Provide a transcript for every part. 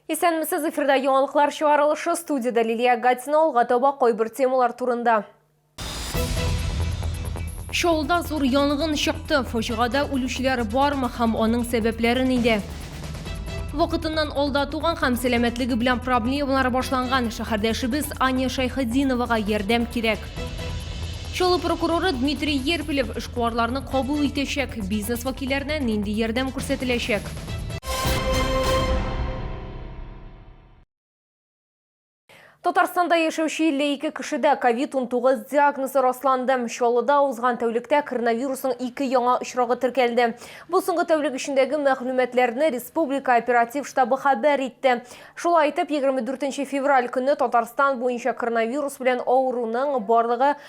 Исәнмесез, эфирда яңалыклар чыгарылышы, студиядә Лилия Гатина, алга таба кайбер темалар турында. Чаллыда зур янгын чыкты. Фаҗигада үлүчеләр бармы һәм аның сәбәпләре нидә? Вакытыннан алда туган һәм сәламәтлеге белән проблемалар башланган шәһәрдәшебез Аня Шайхетдиновага ярдәм кирәк. Чаллы прокуроры Дмитрий Ерпелев эшкуарларны кабул итәчәк. Бизнес вәкилләренә нинди ярдәм күрсәтеләчәк? Татарстанда яшәүче 52 кешедә COVID-19 диагнозы расланды. Чаллыда узган тәүлектә коронавирусның ике яңа очрагы теркәлде. Бу соңгы тәүлек эчендәге мәгълүматларны республика оператив штабы хәбәр итте. Шулай итеп, 24 февраль көне Татарстан буенча коронавирус белән авыруның барлыгы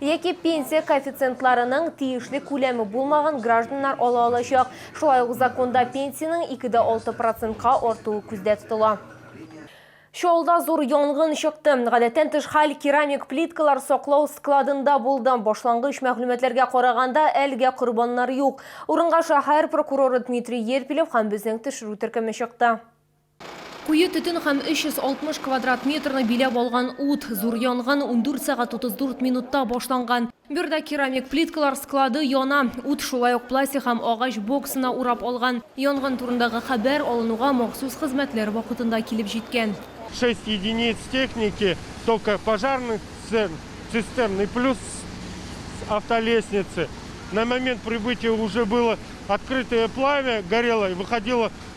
яки пенсия коэффициентларының тиешле күләме булмаган гражданнар ала алачак. Шулай ук законда пенсиянең икедә алты процентка артуы күздә тотыла. Чаллыда зур янгын чыкты. Гадәттән тыш хәл керамик плиткалар саклау складында булды. Башлангыч мәгълүматларга караганда, әлегә корбаннар юк. Урынга шәһәр прокуроры Дмитрий Ерпилев һәм безнең төшерү төркеме чыкты. Куе төтен һәм 360 квадрат метрны биләп алган ут. Зур янгын ундүрт сәгать утыз дүрт минутта башланган. Биредә керамик плиткалар склады яна. Ут шулай ук пластик һәм агач боксына урап алган. Янгын турындагы хәбәр алынуга махсус хезмәтләр вакытында килеп җиткән. Шесть единиц техники, только пожарный цистерн и плюс автолестницы. На момент прибытия уже было открытое пламя, горело и выходило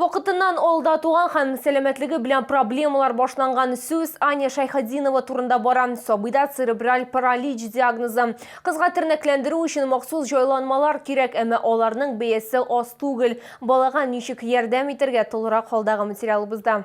Вакытыннан алда туган һәм сәламәтлеге белән проблемалар башланган сүз Аня Шайхатдинова турында бара. Сабыйда церебраль паралич диагнозы. Кызга тернәкләндерү өчен махсус җайланмалар кирәк, әмма аларның бәясе аз түгел. Балага ничек ярдәм итәргә, тулырак халдагы материалыбызда.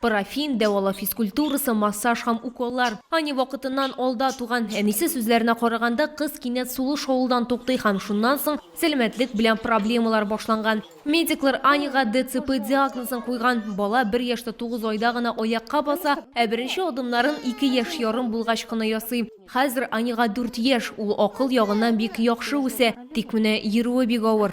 Парафин, дәвалау физкультурасы, массаж һәм уколлар. Аня вакытыннан алда туган. Әнисе сүзләренә караганда, кыз кинәт сулыш алудан туктый һәм шуннан соң сәламәтлек белән проблемалар башланган. Медиклар Аняга ДЦП диагнозын куйган. Бала бер яшьтә тугыз айда гына аякка баса, ә беренче адымнарын ике яшь ярым булгач кына ясый. Хәзер Аняга дүрт яшь, ул акыл ягыннан бик яхшы үсә, тик менә йөрүе бик авыр.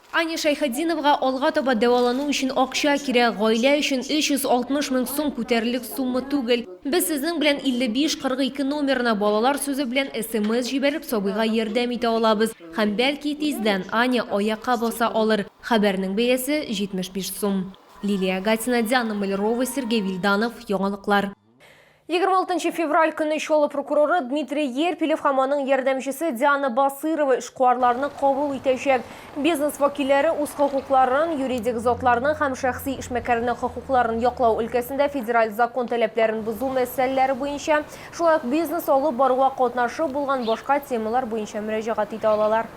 Аня Шәйхетдиновага алга таба дәвалану өчен акча кирәк. Гаилә өчен 360 мең сум күтәрерлек сумма түгел. Без сезнең белән 5542 номерына балалар сүзе белән смс җибәреп сабыйга ярдәм итә алабыз. Һәм бәлки тиздән Аня аякка баса алыр. Хәбәрнең бәясе, 75 сум. Лилия Гатина, Диана Мальрова, Сергей Вильданов, яңалыклар. 26 нчы февраль көнне Чаллы прокуроры Дмитрий Ерпилев һәм аның ярдәмчесе Диана Басырова эшкуарларны кабул итәчәк. Бизнес вәкилләре үз хокукларын, юридик затларның һәм шәхси эшмәкәрнең хокукларын яклау өлкәсендә федераль закон таләпләрен бозу мәсьәләләре буенча, шулай ук бизнес алып баруга катнашы булган башка темалар буенча мөрәҗәгать итә алалар.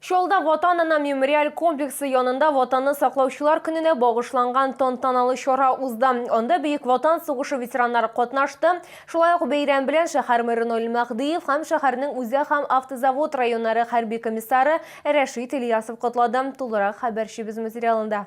Чаллыда Ватан-Ана мемориаль комплексы янында Ватанны саклаучылар көненә багышланган тантаналы чара узды. Анда Бөек Ватан сугышы ветераннары катнашты. Шулай ук бәйрәм белән шәһәр мэры Наил Мәһдиев һәм шәһәрнең үзәк һәм автозавод районнары хәрби комиссары Рәшит Ильясов котлады. Тулырак хәбәрчебез материалында.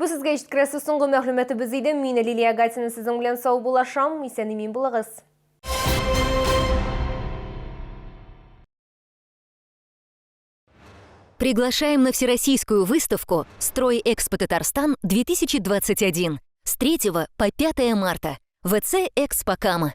Бу сезгә җиткерәсе соңгы мәгълүматыбыз иде. Мин Лилия Гатина сезнең белән сау булашам. Исән имин булыгыз. Приглашаем на всероссийскую выставку «Строй Экспо Татарстан 2021» с 3 по 5 марта в ВЦ «Экспо Кама».